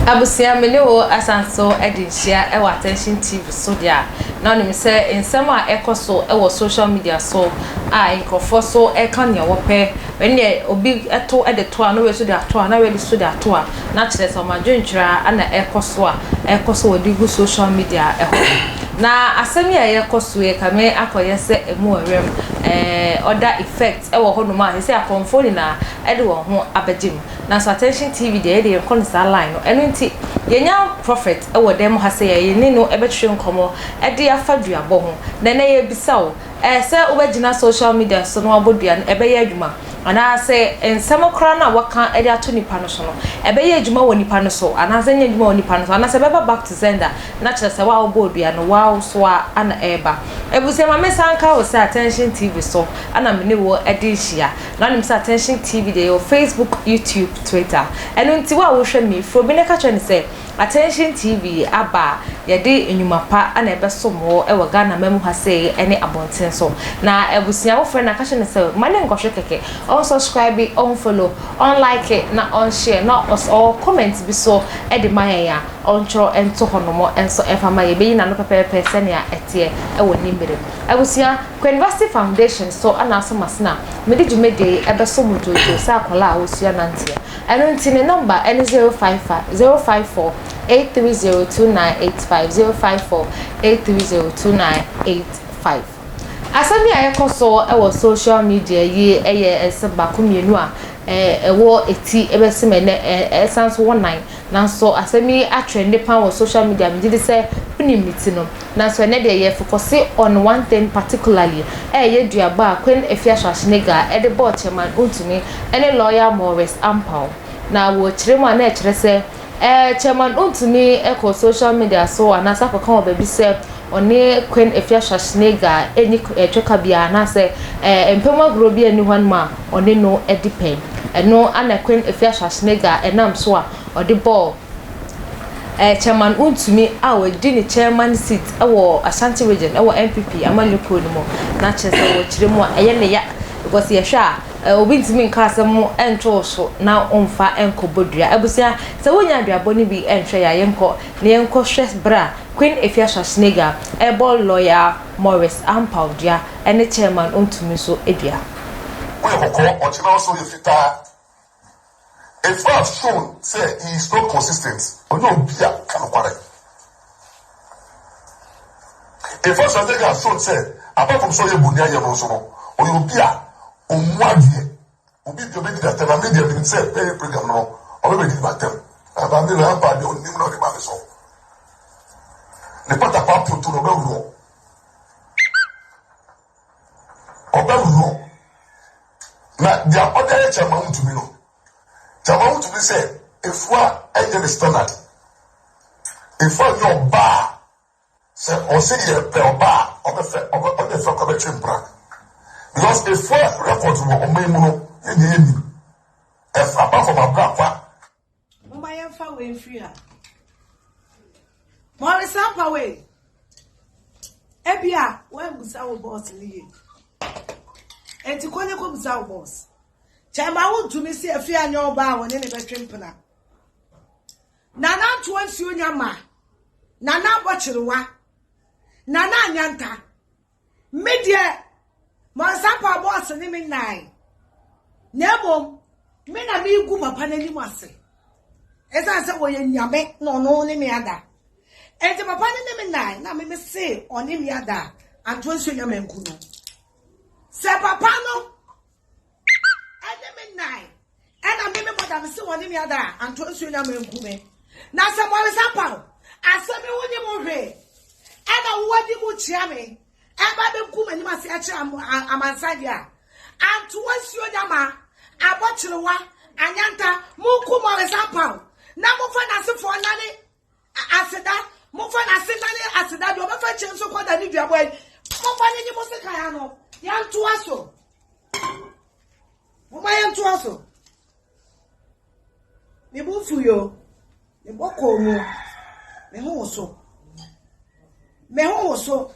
Abusua, me ne wo asan so de nhyia wɔ Attention TV so deɛ a, na wonim sɛ nsɛm a ɛkɔ so wɔ social media so a nkurɔfoɔ so ɛka nea wɔpɛ Ɛnneɛ obi to de to a, na wei nso de ato a, na wei nso de ato a, na kyerɛ sɛ wɔn adwenkyerɛ ara na ɛrekɔ so a ɛrekɔ so wɔde gu social media hɔ. Na asɛm yi a ɛrekɔ so yi kame akɔyɛ sɛ ɛmu ɔwerɛm eh, other effect wɔ hɔnom a seesei akɔmfoɔ nyinaa de wɔn ho abɛgye mu. Nanso Attention TV deɛ yɛn deɛ yɛnkɔ no saa line no. Ɛno nti yɛanya Prophet wɔ dan mu ha sɛ yɛne no bɛtwetwe nkɔmmɔ de afa duabɔ ho. Na ɛnnɛ yɛrebisa wo, Ɛɛ sɛ wobɛgyina social media so na woabɔ dua no, ɛbɛyɛ adwuma? Anaasɛ nsɛm koraa no a wɔka de ato nnipa no so no, ɛbɛyɛ adwuma wɔ nnipa no so anaasɛ ɛnyɛ adwuma wɔ nnipa no so? Anaasɛ ɛbɛba back to sender, na kyerɛ sɛ wo a wobɔɔ dua no, woa nso a na ɛreba? Abusua, ma mensan nka wo sɛ Attention TV so na me ne wo de rehyia. Na wonim sɛ Attention TV deɛ yɛwɔ Facebook, YouTube, Twitter. Ɛno nti wo a wohwɛ me, frɛ obi na ka kyerɛ no sɛ Attention TV aba a yɛde nnwuma pa na ɛbɛsom wo wɔ Ghana man mu ha sei ne abɔnten so. Na abusua wo frɛ no a ka kyerɛ no sɛ ma ne nkɔhwɛ kɛkɛ, ɔn subscribe, ɔn follow, ɔn like na ɔn share na ɔs ɔwɔ comment bi so de ma yɛn a ɔntwerɛ nto hɔnom nso mfa ma yɛn. Yɛbɛyi n'ano pɛpɛɛpɛ sɛnea ɛteɛ wɔ ne mmerɛ mu. Abusua, Kween Vasti Foundation so na Asɔm Asena mede dwumadie yi bɛso mo dwoodwoo sɛ akwadaa a wɔsua nanteɛ. Ɛno nti ne nɔmba ne zero five fa zero five four eight three zero two nine eight five zero five four eight three zero two nine eight five. Asɛm yi a ɛkɔ so wɔ social media yi yɛ nsɛm baako mmienu a ɛwɔ ti bɛsim ɛnɛ ɛsan so wɔ nan nanso asɛm yi atrɛnde paa wɔ social media megye di sɛ wonim ne ti no Naaso ɛnɛ deɛ yɛfokɔse on one thing particularly, ɛyɛ y'eduaba a Queen Afia Schwarzenegger a ɛde bɔɔ Chairman Untumi ɛne Lawyer Maurice Ampaw. Na wɔ kyerɛ mu a na ɛkyerɛ sɛ ɛɛ Chairman Untumi kɔ social media so anaasɛ akɔka wɔ baabi sɛ ɔne Queen Afia Schwarzenegger nni twɛka biara anaasɛ ɛɛ mpamu agorɔ biara nni hɔnom a ɔne no di pɛ. Ɛno na Queen Afia Schwarzenegger nam so a ɔde bɔɔ ɛɛ Chairman Wontumi a wadi ne chairman seat wɔ Ashanti region wɔ NPP amanyɔ kuo no mu na kyerɛ sɛ wɔ kyerɛ mu a ɛyɛ ne ya because yɛhwɛ a ɛɛ obi ntumi nka asɛm nto wo so na womfa nkɔ bɔ dua abusua sɛ wonya aduabɔ no bi nhwɛ yɛ a yɛnkɔ na yɛnkɔ hwɛ berɛ a Queen Efia Schwarzenegger ɛbɔ lawyer Morris Ampaw dua ɛne chairman Wontumi nso dua. Woyɛ kɔkɔɔ, ɔkyena wo so yɛ fitaa. If God has shown sɛ he is not consistent, ɔnyɛ obi a ɔka nokware. If AstraZeneca has shown sɛ apart from sɛ ɔyɛ bonniayɛ no nso no, ɔyɛ obi a ɔmmu adeɛ. Obi bi a ɔbɛdi n'atɛm, na me deɛ menim sɛ Perry Brigham no, ɔbɛbɛdi m'atɛm. Ɛba me na ampa deɛ ɔnim na ɔde ma me so. Ne patakwaa ponto no ɔbɛworɔ. Ɔbam no, na deɛ ɔde ayɛ kyɛma wotumi no, kyɛma wotumi sɛ efua ɛnyɛ ne standard. Efua nyɛ ɔbaa, sɛ ɔse yɛ pɛ ɔbaa, ɔbɛfɛ, ɔbɛ, ɔnyɛ fɛ kɔ bɛtwe mpra. Because efua record wɔ ɔman mu no, yɛ nyɛ yɛ nim. Ɛfa ba fam abrakwa. Momma yɛmfa wei mfiri ha. Morris apa wei. Ebia woabusa wo bɔs no yie. Enti kɔ ne kɔbusa wo bɔs. Kyɛma wontumi si afie anyɛ ɔbaa a wɔne ne bɛtwe mpena. Nana ntoa nsuo nya ma. Nana abɔ kyerewa. Nana anyanta. Me deɛ mansapa bɔɔse ne me nan na mmom me na megu papa no anim ase ɛsiane sɛ wɔyɛ nyame na ɔno ne me ada ɛnti papa no ne me nan na me me se ɔne me ada antoa nsuo nya manku no sɛ papa no ɛne me nnan ɛna me me bɔda me se wɔne me ada a anto nsuo nya manku me na sɛ mɔresa paw asɛm yi wonye mo hwee ɛna wowadi mu kyia me ɛba bɛgu m'anim ase ɛkyerɛ amansan deɛ a anto nsuo nya ma abɔkyerewa anyanta monku mɔresa paw na mofa n'asefoɔ nane Aseda, momfa no aseda ne aseda deɛ ɔbɛfa kyɛ nso kɔda ne duabɔ yi momfa no nye mo sekan ano yɛntoa so momma yɛntoa so me bo mfu yo me bɔ kɔɔ mu me ho wo so me ho wo so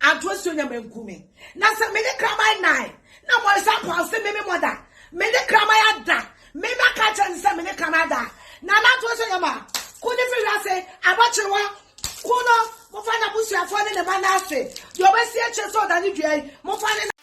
Anto asuo nya manku me. Na sɛ mede kraman nan na mɔyisa nkwa ɔse me me mɔda. Mede kraman ada me na ka kyerɛ ne sɛ mede kraman ada. Na na anto asuo nya ma. Ku ne firi wiase abɔkyere hɔ. Ku no mofa n'abusuafoɔ ne ne mma no ase. Deɛ ɔbɛsi akyire sɛ ɔdane dua yi mofa ne.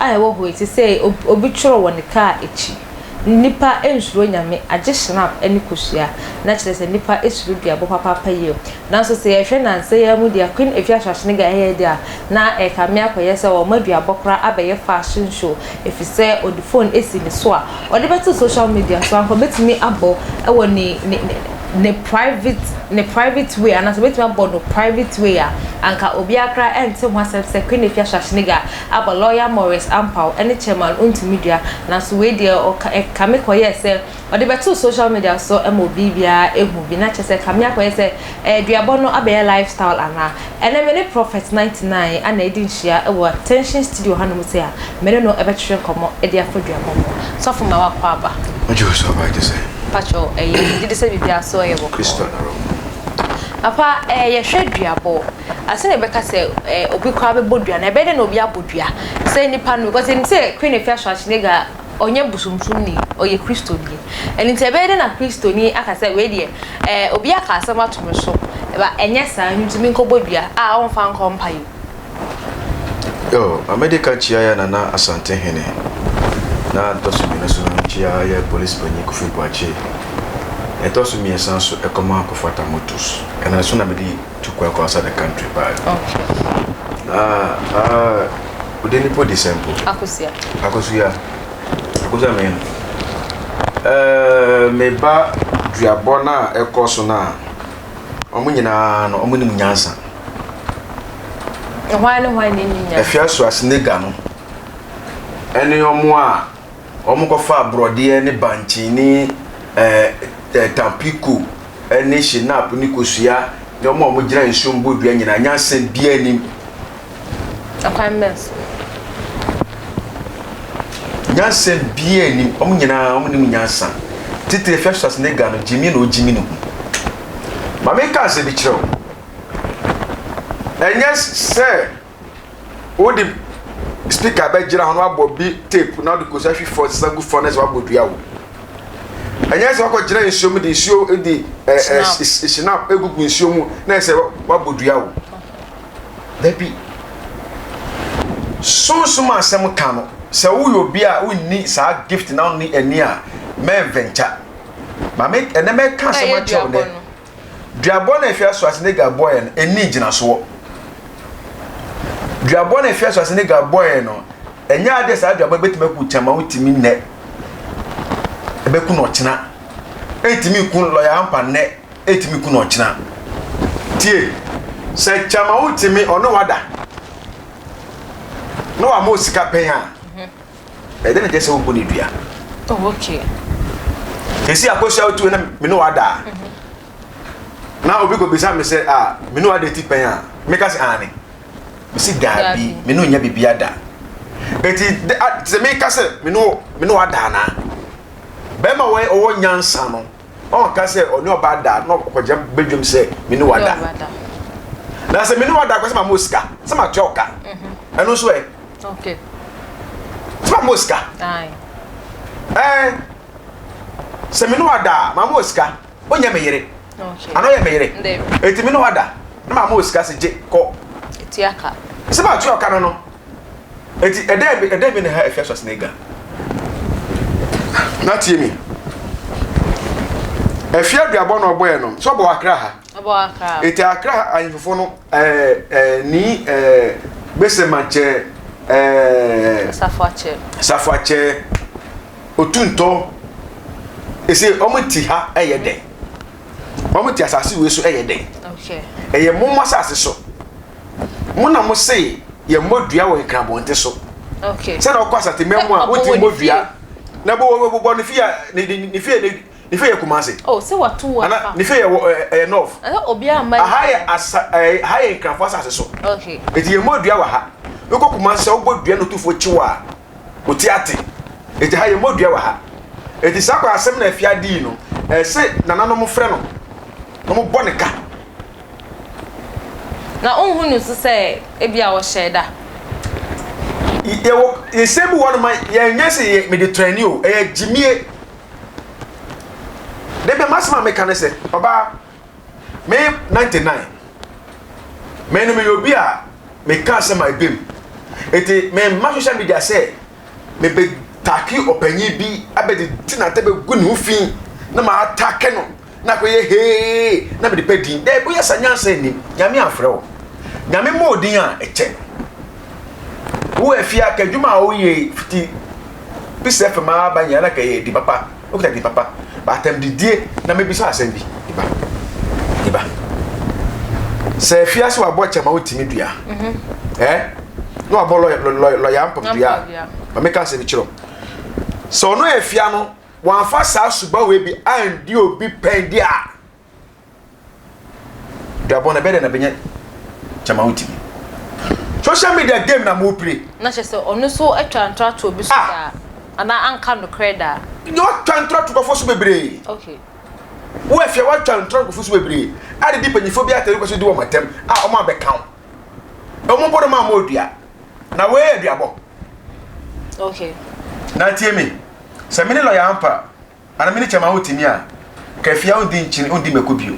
a ɛwɔ hɔ yi te sɛ obi twerɛ wɔ ne kaa akyi. Nnipa nsuro Nyame agye shrap ne kosua, na kyerɛ sɛ nnipa suro duabɔ papaapa yie. Nanso sɛ yɛhwɛ nansa yi ara mu deɛ a Queen Afia Shrashene Ga ɛyɛɛ deɛ a, na ɛrekame akɔyɛ sɛ wɔama duabɔ koraa abɛyɛ fashion show, ɛfiri sɛ ɔde phone asi ne so a ɔde bɛto social media so anka ɔbɛtumi abɔ wɔ ne ne ne ne private ne private way anaasɛ ɔbɛtumi abɔ no private way a anka obiara koraa ɛnte ho asɛm sɛ Queen Afia Shrashene Ga Aber lɔya Morris Ampaw ne Chairman Ontumidua, naaso wei deɛ ɔka eh, Kame kɔyɛɛ sɛ ɔde bɛtoo social media so ma obi biara ehu bi, na kyerɛ sɛ Kame akɔyɛ sɛ eh, duabɔ no abɛyɛ lifestyle anaa? Ɛnnɛ me ne Prophet 99 ana edi nhyia wɔ Attention Studio hanom sei a, me ne no bɛtwetwe nkɔmmɔ de afa duabɔ ho. Sɔfo ma wakɔ aba. Wogye wo so aba agye sɛn? Mpakyɛw ɛyɛ, megye di sɛ biribiara so yɛ bɔkɔɔ. Christo na Romo. Papa eh, yɛhwɛ duabɔ. Ansa na yɛbɛka sɛ obi koraa bɛbɔ dua no, ɛbɛyɛ dɛ na obi abɔ dua sɛ nipa no, because yɛnim sɛ Queen Afua Schwarzenegger a, ɔnyɛ bosomsomni, ɔyɛ Kristoni. Ɛno nti ɛbɛyɛ dɛ na Kristoni aka sɛ wei deɛ, ɛɛ obi aka asɛm ato me so, ba ɛnyɛ saa, ɛno nti menkɔbɔ dua a ɔmfa nkɔ mpa yɛ mu. Yoo, Amedeka Kyia yɛ Nana Asantehene, na ɛtɔ so mmienu nso no Kyia yɛ Polisi Panyin Kofi Boakye, na ɛtɔ so mmiɛnsa nso Ɛkɔmaa Kofata Motos. Ɛno nso na mede. to kɔ akɔ outside the country paa no okay ah ah wode nipo di sɛ mpo akosia akosia akosia me eh me ba duabɔ no a ɛkɔ so no a ɔmo nyinaa no ɔmo nim nyansa ɛhwan ne hwan ne nim nyansa afia so asenega no ɛne ɔmo a Wɔkɔfaa borɔdeɛ ne bankye ne ɛɛ tampico ne shinap ne kosua ne wɔn a wɔgyina nsuo mu bɔ dua nyinaa. Nyansa biara nnim. Ɛkwan bɛn so? Nyansa biara nnim. Wɔn nyinaa wɔn nim nyansa. Titire Festus ne Ga no gyimi na ɔgyimi ne ho. Maame nka asɛm bi kyerɛ wo. Ɛnyɛ sɛ. Wode speaker bɛgyina hɔ na wabɔ bi tape na wode kɔ sahwi fɔ sesa gu fɔ na sɛ wabɔ dua wo ɛnyɛ sɛ wakɔ gyina nsuo mu de nsuo de ɛɛ sinap egugu nsuo mu na sɛ wabɔ dua wo dabi sunsun asɛm ka no sɛ woyɛ obi a wonni saa gift na wonni ani a mɛnvɛnta maame ɛnɛ mɛka asɛm akyerɛw dɛ. Duabɔ no a ɛhwɛ Schwarzenegger bɔe no nni ngyinasoɔ. Duabɔ no a ɛhwɛ Schwarzenegger bɔe no, ɛnyɛ adeɛ saa duabɔ no bɛtumi aku wo kyɛn ma wotumi nnɛ. Ɛbɛku no ɔkyena. Ɛntumi ku lɔya ampa nnɛ, ɛntumi ku no ɔkyena. Tie, sɛ kyɛma wotumi ɔne wada na wama wo sika pɛn a, Ɛdɛn na ɛkyerɛ sɛ wobu no dua? Oh, okay. Esi akɔhyia wo tu na me ne wo ada a, mhm. na obi kɔbisa me sɛ, ah, me ne wo ada ti pɛn a, meka sɛ aane. Mesi daabi, me ne wo nya biribi ada. Enti sɛ meka sɛ me ne wo ada anaa, bɛrima wɔn ɔwɔ nyansa no, Ɔnka sɛ ɔne ɔbaa da na ɔkɔgye badwam sɛ me ne wo ada. Na sɛ me ne wo ada kɔ sɛ ma mo sika, sɛ ma tua wo ka. Mhm. Ɛno nso ɛ. Okay. Sɛ ma mo sika. Aye. Eh. Sɛ me ne wo ada, ma mo sika. Onyɛ me yere. Okay. Ano yɛ me yere. Eti me ne wo ada, na ma mo sika sɛ gye kɔ. Tua ka. Sɛ ma tua ka no no. Enti ɛdɛn bi ɛdɛn bi na ɛha Efiaso Asenega? Na tie mi. Efia duabɔ na ɔbɔɛ no. So ɔbɔ akra ha. Ɔbɔ akra. Eti akra ha ahemfofo no ɛɛ ɛɛ ni ɛɛ besema kyɛ ɛɛ. Safuakyɛ. Safuakyɛ otuntɔ. Ese wɔn ti ha ɛyɛ dɛn? Wɔn ti asase wei so ɛyɛ dɛn? Okay. Ɛyɛ mom asase so. mo na mo se yɛ mmɔ dua wɔ nkrabɔnte so okay sɛ na ɔkɔ asatemɛ mu a wotumi bɔ dua na bɔ bɔ bɔ bɔ ne fie ne ne ne fie ne fie yɛ kumase oh sɛ wato wɔ ana ne fie yɛ wɔ ɛyɛ north ɛna obi a ma aha yɛ asa ɛɛ ha yɛ nkrafo asase so okay eti yɛ mmɔ dua wɔ ha wokɔ kumase sɛ wobɔ dua na otufo kyew a Ɔte ate. Enti ha yɛmmɔ dua wɔ ha. Enti saa kwan asɛm na afia dii no, ɛse nananom frɛ no na wɔbɔ no ka. Na wonhu no nso sɛ ebia ɔhyɛɛ da. Yɛwɔ nsɛm bi wɔ hɔnom a yɛnyɛ sɛ yɛyɛ Mediterranee o, ɛyɛ gyimie. Dɛn bia m'asɛm a meka ne sɛ, ɔbaa. Me ninety nine me no meyɛ obi a meka asɛm a ɛbɛm nti memma social media sɛ mebɛtake ɔpanyin bi abɛde ti na bɛgu ne ho fi na maatake no na akɔyɛ hee na mede pɛ din dɛ boyɛ sa nyansa nnim nyame amfrɛ wo nyame mmɔ odin a ɛkyɛ wo afia ka adwuma a woyɛ fiti bisa fam aba nyɛ na ka ɛyɛ di papa Woka di papa, ba atam didie na mebisa asɛm bi. Di ba, di ba. Sɛ afie ase wabɔ kyɛ ma wotumi dua. Mhm. Eh? Na wabɔ lɔya mpam dua. Ma meka asɛm bi kyerɛ. Sɛ ɔno afia no, wɔamfa saa subawe bi andi obi pɛn di a. Duabɔ no ɛbɛyɛ dɛ na bɛnyɛ gyama wo timi social media game na mo play. Na kyerɛ sɛ ɔno nso atwa ntratoɔ bi so ah. daa anaa anka nokorɛ daa. Deɛ watwa ntrato nkurɔfoɔ so bebree. Okay. Wo afia watwa ntrato nkurɔfoɔ so bebree a didi mpanyinfoɔ bi atɛm wopɛ so di wɔn atɛm a wɔn abɛka wo. Wɔn mpo no ma wɔn odua. Na wei yɛ duabɔ. Okay. Na tie me sɛ mene lɔya ampa Ana mene kyɛ ma wo timi a ka afia ondi nkyene ondi mako bio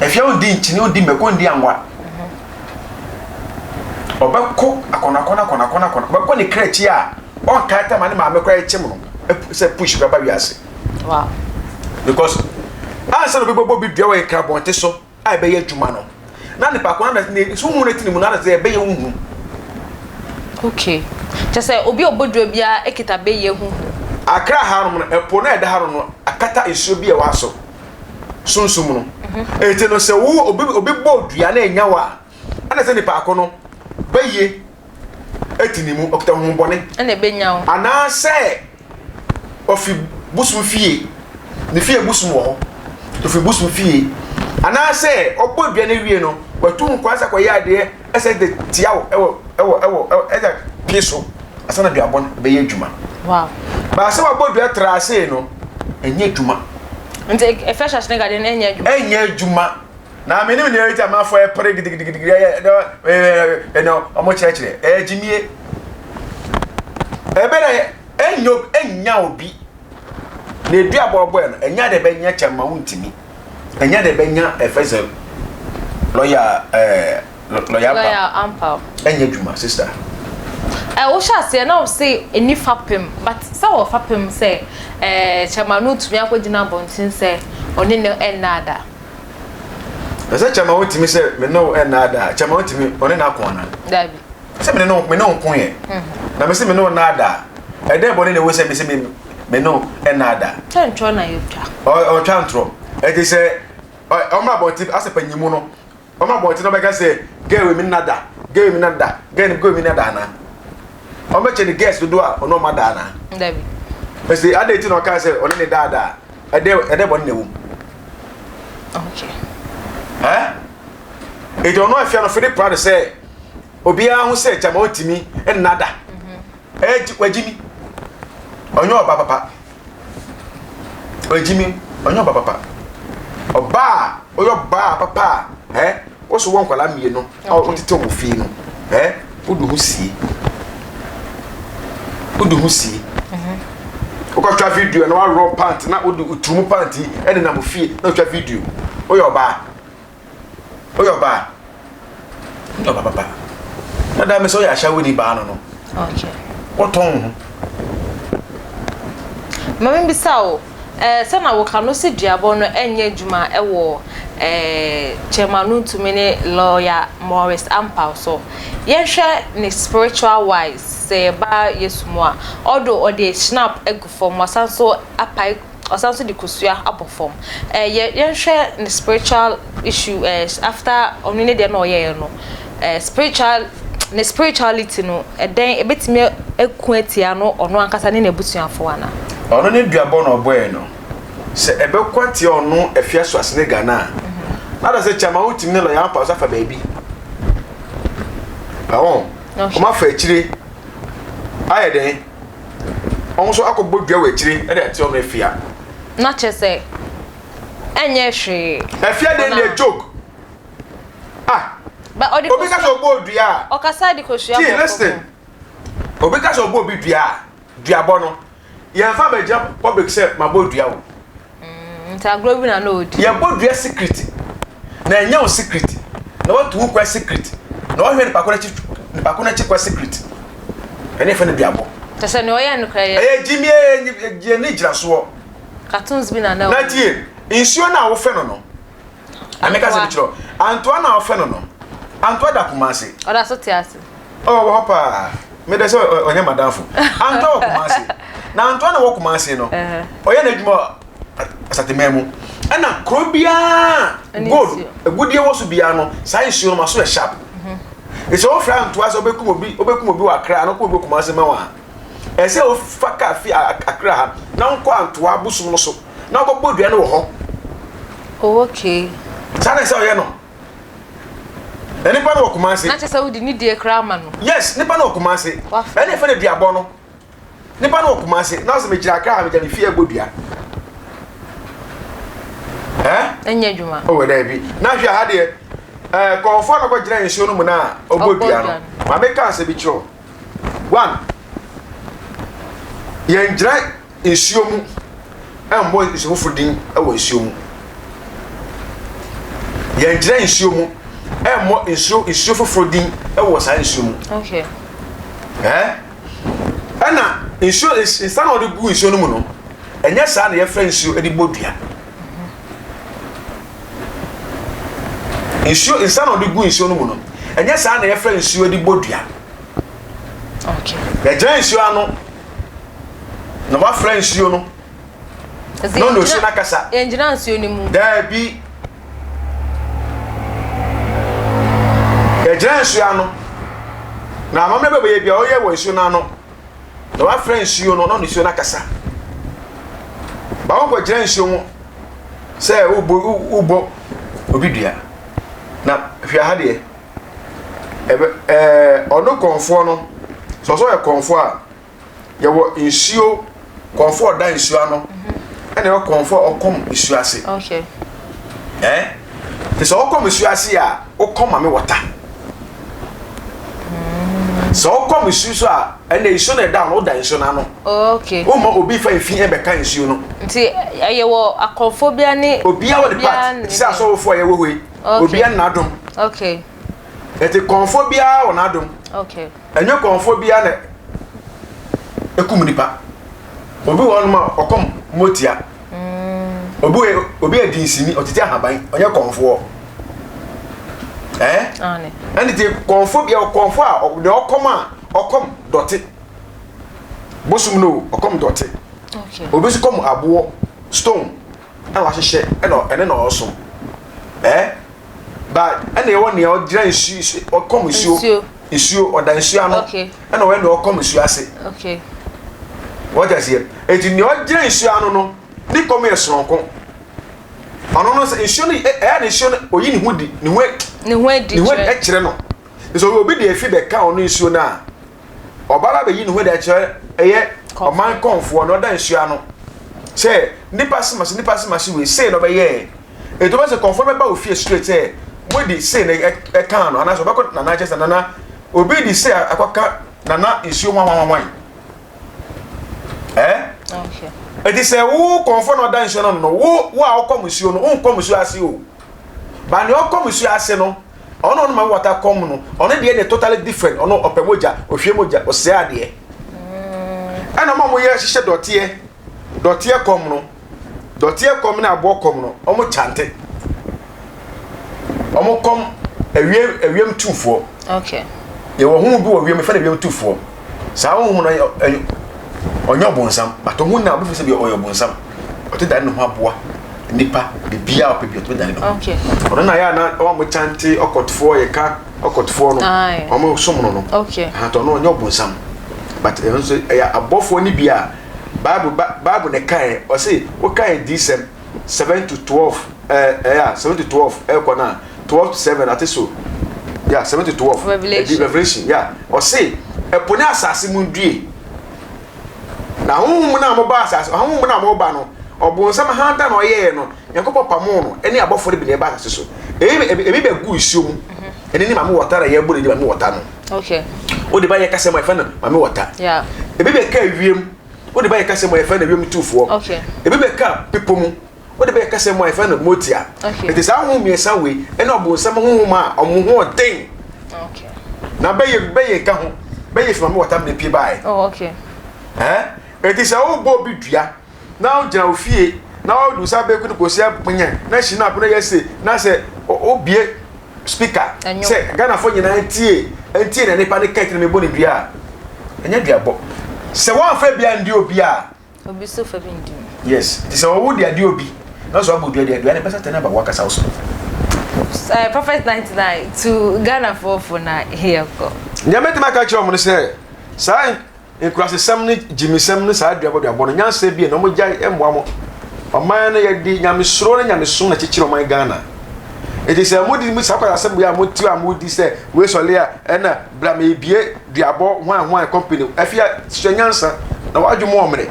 afia ondi nkyene ondi mako ondi angwa ɔbɛkɔ akɔnakɔna akɔnakɔna akɔna ɔbɛkɔ ne kra akyi a ɔnka ata ma ne maame kora ɛkyem no sɛ push bɛba wiase because ansa na obi bɛbɔ bi dua wɔ yɛ krabɔnte so a ɛbɛyɛ adwuma no na nipa ko na ne so hu ne tene mu na sɛ ɛbɛyɛ wo hu. Okay kyɛ sɛ obi a ɔbɔ duro biara ekita bɛyɛ hu hu. Akra ha nom no ɛpo na ɛda ha nom no akata nsuo bi a ɛwɔ aso sunsum no eti no sɛ wo obi obi bɔ dua na enya wo a ɛna sɛ nipa ko no bɛyɛ adi ne mu, ɔkita honhommɔne, ɛna ebenya wo. anaasɛ ofi bosom fie, ne fie bosom wɔ hɔ, ofi bosom fie, anaasɛ ɔbɔ aduane awie no, watu nkwan sɛ kɔyɛ adeɛ ɛsɛ de tia wo ɛwɔ ɛwɔ ɛwɔ ɛwɔ ɛsɛ pie so asa na duabɔ no bɛyɛ adwuma. Wow. Baasa wabɔ dua tra ase no, ɛnyɛ adwuma. Nti efɛ hyɛ ase ne gade no ɛnyɛ adwuma. Ɛnyɛ adwuma. Na me ne me nua Rita Mafo repere gidigidigidi ɛyɛ ɛnɛ wɔn kyerɛkyerɛ ɛyɛ gyimie ɛbɛ na ɛnyɛ ɛnya obi na edu abɔbɔɛ no ɛnya de bɛnya kyɛn ma wontumi ɛnya de bɛnya ɛfɛ sɛ lɔya ɛɛ lɔya ampa ɛnyɛ adwuma sista. ɛ wohyɛ aseɛ na wɔse ɛni fapem but sɛ wɔ fapem sɛ ɛɛ kyɛn ma no tumi akɔgyina abɔnten sɛ ɔne no ɛnna ada. Na sɛ kyɛma wontumi sɛ me ne wo nnaadaa, kyɛma wontumi ɔne na kɔn na. Dabi. Sɛ me ne no me ne nko yɛ. Mhm. Na me se me ne wo nnaadaa. Ɛdɛ bɔ ne na ewu sɛ me se me me ne wo nnaadaa. Sɛ ntoro na yɛ twa. Ɔ ɔtwa ntoro. Ɛte sɛ ɔmo abɔnten asɛ panyimu no. Ɔmo abɔnten na ɔbɛka sɛ gɛɛ wɔ mi nnada, gɛɛ wɔ mi nnada, gɛɛ no gɛɛ wɔ mi nnada ana. Ɔmo bɛkyɛ ne gɛɛs dodo a ɔno ɔmo ada ana. Dabi. Ɛsɛ adɛ ti na ɔka sɛ ɔne ne daadaa. ɛdɛ ɛdɛ bɔne na ɛwɔ mu okay eh eti ɔno afia no fede pra no sɛ obiara ho sɛ gyama ɔntumi nna da ɛgye mhm. wagye mi ɔnyɛ ɔba papa wagye mi ɔnyɛ ɔba papa ɔbaa ɔyɛ ɔbaa papa ɛ. Wo so wɔ nkwadaa mmienu a wɔtetɛ wɔ fie no, ɛ wode ho sie. Wode ho sie. Wokɔtwa video na waworɔ pant na wode uturumu pant yi ɛne nam fie na wotwa video. Woyɛ ɔbaa. Woyɛ ɔbaa. Woyɛ ɔbaa papa. Na daa me sɛ woyɛ ahyɛwo ni baa no no. Okay. Wotɔn ho. Mami bisa o. Ɛɛ sɛ na woka no sɛ duabɔ no nyɛ adwuma wɔ ɛɛ Chairman Nuntumi ne Lawyer Maurice Ampaw so. Yɛnhwɛ ne spiritual wise sɛ yɛba Yesu mu a, although ɔde schnapp agu fam, wasan nso apae, ɔsan nso de kosua abɔ fam. Ɛɛ yɛ yɛnhwɛ ne spiritual issue ɛɛ after ɔno ne deɛ na ɔyɛeɛ no. eh, spiritual, ne spirituality no, ɛdɛn, ebetumi aku atia no ɔno ankasa ne n'abusuafo ana? Ɔno ne duabɔ na ɔbɔɛ no. Sɛ ɛbɛko atia ɔno afia so ase ne Ghana a, na da sɛ kyama wotumi ne lɔya apaw so afa baabi. Ɛwɔ, wɔn afa akyire ayɛ dɛn? Wɔn nso akɔbɔ dua wɔ akyire ɛde atia ɔno afia. Na kyerɛ sɛ ɛnyɛ hwee. Afia dɛn deɛ joke. Ah! Ba ɔde Obi kasa ɔbɔ odua a. Ɔkasa de kosua bɔ. Gee listen. Obi kasa ɔbɔ obi dua a, dua bɔ no. Yɛn fa ma gyina public sɛ ma bɔ dua o. Mm, nti agorɔ bi na na ɔdi. Yɛ bɔ dua secret. Na ɛnyɛ wo secret. Na watu wo kwan secret. Na ɔhwɛ nipa ko n'akyi nipa ko n'akyi kwan secret. Ɛne fɛ no dua bɔ. Kyɛsɛ ne ɔyɛ no kora yɛ. Ɛyɛ gyimi ɛyɛ ne gyina soɔ. Cartoons bi na na ɔyɛ. Na tie, nsuo no a wofɛ no no. Ame ka sɛ mekyerɛ Antoa na ɔfɛ no no. Antoa da Kumase. Ɔda so te ase. Oh, wɔ hɔ paa. Medɛ sɛ ɔnyɛ madamfo. Antoa wɔ Kumase. Na Antoa na wɔ Kumase no, ɔyɛ n'adwuma wɔ Asateman mu. Ɛna kuro biara gold agudeɛ wɔ so biara no, saa nsuo no ma so yɛ sharp. Sɛ wɔfrɛ Antoa sɛ ɔbɛkum obi, ɔbɛkum obi wɔ Akra, na ɔkum obi wɔ Kumase ma wɔn a, Ɛsɛ wofa kar fi Accra ha na wonkɔ Antoa bosom no so na wokɔbɔ dua no wɔ hɔ. Oh okay. Saa na ɛsɛ ɔyɛ no. Na nipa no wɔ Kumasi. Na kyɛ sɛ wode ne die koraa ma no. Yes, nipa no wɔ Kumasi. Wafrɛ. Ɛna ɛfɛ no duabɔ no. Nipa no wɔ Kumasi na ɔsɛ megyina Accra ha megya me fie ɛbɔ dua. Eh? Ɛnyɛ adwuma. Oh, daabi. Na hwɛ ha deɛ. Eh, kɔɔfoɔ na kɔgyina nsuo no mu na ɔbɔ dua no. Ma meka asɛ bi kyerɛ One, yɛngyina nsuo mu mmɔ nsu foforɔ din wɔ nsuo mu. Yɛngyina nsuo mu mmɔ nsuo nsuo foforɔ din wɔ saa nsuo mu. Okay. Ɛɛ ɛna nsuo nsa na wɔde gu nsuo no mu no ɛnyɛ saa na yɛfrɛ nsuo de bɔ dua. Nsuo, nsa na ɔde gu nsuo no mu no, ɛnyɛ saa na yɛfa nsuo de bɔ dua. Yɛgyina nsuo ano na wafra nsuo no na ɔne osuo no akasa. Yɛngyina nsuo no mu. Daabi. Yɛgyina nsuo ano na amammerɛ bɛbɛyɛ bia ɔyɛ wɔ nsuo no ano. na wafrɛ nsuo no na nsuo no akasa ba wokɔgyina nsuo mu sɛ wobɔ obi dua na hwɛ ha deɛ ɔno kɔnfoɔ no sɛ ɔsɛ ɔyɛ kɔnfoɔ a yɛwɔ nsuo Kɔmfo a ɔda nsuo ano ɛna ɛwɔ kɔmfo a ɔkɔm nsuo ase. Okay. Ɛɛ te sɛ ɔkɔm nsuo ase a ɔkɔm ma me wɔta. Hmm. Sɛ ɔkɔm nsuo so a ɛna nsuo na ɛda no ɔda nsuo n'ano. Okay. Wɔn ma obi fa efi ɛbɛka nsuo no. Nti ɛyɛ wɔ akɔmfo bia ne. Obia wɔ ne part ti sɛ asɔwofo a yɛ wɔ hɔ yi. Okay. Obia n'adom. Okay. Ɛti kɔmfo biara wɔ n'adom. Okay. Ɛnyɛ kɔmfoɔ biara na ɛkum nnipa. Obi wɔ hɔnom a ɔkɔm mmɔ tia. Obi wɔ obi yɛ dinsini, ɔtete ahaban, ɔnyɛ kɔmfoɔ. Ɛɛ? Ɛne nti kɔmfoɔ biara kɔmfoɔ a ɔ- deɛ ɔkɔm a ɔkɔm dɔte. Bosom no o, ɔkɔm dɔte. Obi nso kɔm aboɔ, stone. na wahyehyɛ ɛna ɛne na ɔso ɛɛ ba ɛna ɛwɔ nea ɔgyina nsuo nsuo ɔkɔm nsuo nsuo ɔda nsuo ano ɛna ɔyɛ nea ɔkɔm nsuo ase wɔgya seɛ eti nea ɔgyina nsuo ano no ne kɔm yɛ soronko ɔno no sɛ nsuo no ɛyɛ ne nsuo no oyi ne ho di ne ho ne ho adi kyerɛ no nso obi de efi bɛka ɔno nsuo no a. ɔbaa no abɛyi ne ho de akyerɛ ɛyɛ ɔman kɔnfoɔ na ɔda nsuo ano sɛ nipa sema se nipa sema se wei sei na ɔbɛyɛɛ ɛti ɔbɛ sɛ kɔnfoɔ no bɛba ofie straight sɛ mode sei na ɛkaa no anaasɛ ɔbɛkɔ nana kyɛ sɛ nana obi de sei akɔka nana nsuo hwanhwanhwan eh ɛti sɛ wo kɔnfoɔ na ɔda nsuo no no wo wo a ɔkɔ musuo no wonkɔ musuo ase o ba ne ɔkɔ musuo ase no Ɔno ɔno ma wata kɔm no ɔno deɛ deɛ totally different ɔno ɔpɛ mogya ohwie mogya ɔsɛ adeɛ ɛna ɔma ɔmo yɛ hyehyɛ dɔteɛ dɔteɛ kɔm no dɔteɛ kɔm ne aboɔ kɔm no ɔmo kyante ɔmo kɔm ɛwiem ɛwiem tufoɔ okay yɛwɔ ho bi wɔ wiem fɛn ɛwiem tufoɔ. Saa honhom no yɛ ɔnyɛ ɔbonsam, but ɔho na wobɛfiri sɛ bi ɔyɛ ɔbonsam. Ɔte dane ne ho aboa nipa biribi a ɔpɛ bi ɔtumi dane ne ho. Ɔno na yɛ a na wɔn mo kyante ɔkɔtofoɔ yɛ ka ɔkɔtofoɔ no wɔn mo som no no. Ahatɔ no ɔnyɛ ɔbonsam but ɛno nso ɛyɛ abɔfoɔ no bi a Bible Bible na ɛkaeɛ ɔse wokaeɛ dii sɛm. seven to twelve ɛɛ eh, ɛyɛ eh, a seven to twelve ɛkɔ na twelve to seven ate so ya seven to twelve ɛdi revolution ya ɔse ɛpo ne asase mu due na ahohom mu na mo ba asase ahohom mu na mo ba no ɔbɔnsam hanta na ɔyɛɛ no nyankopɔn pamo no ɛne abɔfoɔ no bi na ɛba asase so ebi ebi bɛ gu nsuo mu ɛne ne maame wɔta na yɛ bɔ ne di maame wɔta no okay o de ba yɛ kasa mu ɛfɛ no maame wɔta ebi bɛ ka ewiem. Wode bɛyɛ kasa mu a yɛfrɛ no wiem tufoɔ. Ebi bɛka bepɔ mu. Wode bɛyɛ kasa mu a yɛfrɛ no motia. Enti saa honhom mmiɛnsa wei ɛne ɔbonsam honhom a wɔn ho ɔden. Na bɛyɛ bɛyɛ ka ho. Bɛyɛ fi maame wɔtam na epie baae. Ɛɛ enti sɛ wobɔ obi dua na wogyina ofie na wode nsa bɛku no kɔsi apɔnya na hyina apono yɛ se na sɛ wobie Speaker sɛ Ghanafoɔ nyinaa ntie ntie na nipa ne kɛt na mebɔ ne dua a ɛnyɛ dua bɔ sɛ wɔnfɛ bia ndi obi a obi so fɛ bi ndi mu yes ti sɛ ɔwo di adi obi na so abɔ dua di adua ne bɛsa tɛ na ba wakasa wo so uh, prophet 99 to Ghanafoɔ fo na yɛkɔ nyɛ mɛtumi aka kyerɛ ɔmo no sɛ saa Nkurasesɛm ne gyimisɛm ne saa duabɔduabɔ no nyansa bie na ɔmo gyae ɛmmoa mo ɔman no yɛde nyamesuro ne nyamesom na kyekyere ɔman Ghana eti sɛ mo di saa kwasasɛm yɛ a mo ti a mo di sɛ wei sɔle a ɛna bra me bie duabɔ hwan hwan company afia sua nyansa na wadwo mo ɔmene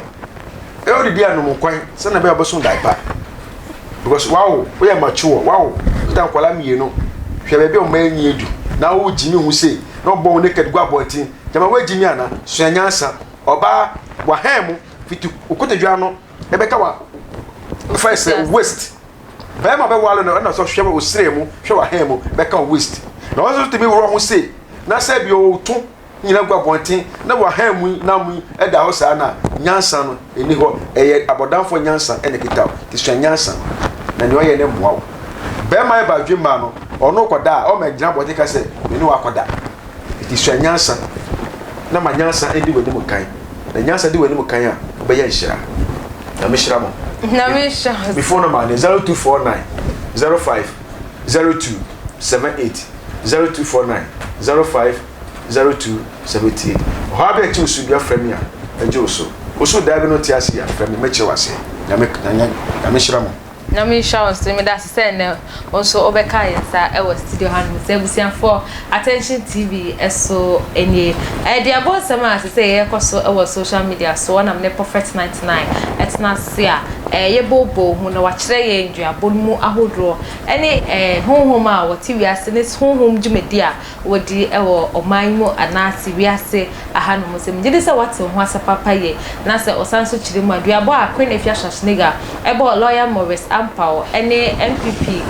ɛyɛ ɔde di anom nkwan sɛ na bɛyɛ ɔbɛso dae pa because wawo woyɛ mature wawo woda nkwala mmienu hwɛ baabi ɔmo enyi edu na wo gyimi ho sei na ɔbɔ wo naked gu abɔnten Gyama woegye me ana? Sua nyansa, ɔbaa, wɔahɛɛn mo, fitsi wo kotodwe ano ebɛka wɔ fa esɛ wo waist. Barima bɛwar no na ɔsɔ hwɛ wo serɛ mu, hwɛ w'ahɛɛn mu, bɛka wo waist. Na ɔno so tumi worɔ ho sei na sɛ bi ɔwɔ wo to nyina gu abɔnten na w'ahɛɛn mu yi na mu yi da hɔ saa no a, nyansa no nni hɔ, ɛyɛ abɔdamfoɔ nyansa na ekita wo, nti sua nyansa na nea ɔyɛ no mmoa wo. Barima yɛ badwemmaa no, ɔno kɔda a, ɔmma ngyina abɔnten ka sɛ me ne wo akɔda. Enti sua nyansa, na ma nyansa ndi w'anim kan. Na nyansa di w'anim kan a, wobɛyɛ nhyira. Nyame hyira mo. Nyame hyira mo. Me phone number ne 0249 05 02 78 0249 05 02 78. Ɔhaw bi a ɛte wo so bia frɛ me a, mɛgye wo so. Wo so daa bi no te ase a, frɛ me, mɛkyerɛ wo aseɛ. Nyame, Nyame hyira mo. Nyame nhyira wo nso meda ase sɛ nnɛ wo nso wobɛka yɛn nsa wɔ studio hanom sɛ abusuafoɔ attention tv so nie ɛde abɔ nsɛm a sɛ sɛ yɛkɔ so wɔ social media so wɔnam ne prophet 99 ɛtena ase a ɛyɛ bobo ho na wakyerɛ yɛn duabɔ no mu ahodoɔ ɛne honhom a wɔte wiase ne honhom dwumadi a wodi wɔ ɔman yi mu anaase wiase ha no mu sɛ megye di sɛ woate ho asɛ papa yie na sɛ ɔsan nso kyerɛ mu a duabɔ a Queen Afia Schwarzenegger bɔɔ Lawyer Maurice Ampaw ne NPP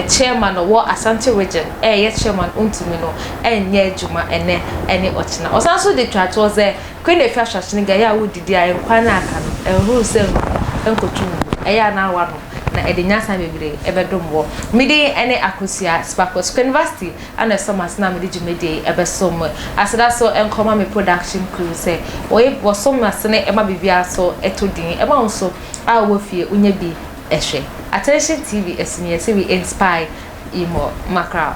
Chairman a ɔwɔ Asante Region ɛyɛ Chairman ɔntumi no nyɛ adwuma ɛnɛ ne ɔkyena. Ɔsan nso de twa toɔ sɛ Queen Afia Schwarzenegger ɛyɛ a wodidi a nkwan no a aka no ɛnhoro sɛ ngu ɛnkɔto ngu ɛyɛ a na woanom na ɛde nyansa bebree ɛbɛdom wɔ. Me din ɛne Akosua Sparkles Queenvasty. Ana ɛsɔ m'ase na mede dwumadie yi bɛsom mo. Aseda so nkɔ ma me production crew sɛ wɔyɛ bi, wɔsom m'asene ma biribiara so tɔ din. Ɛma wo nso a wowɔ fie wonya bi hwɛ. Attention TV ɛso ni yɛse we inspire you more. Mackerel.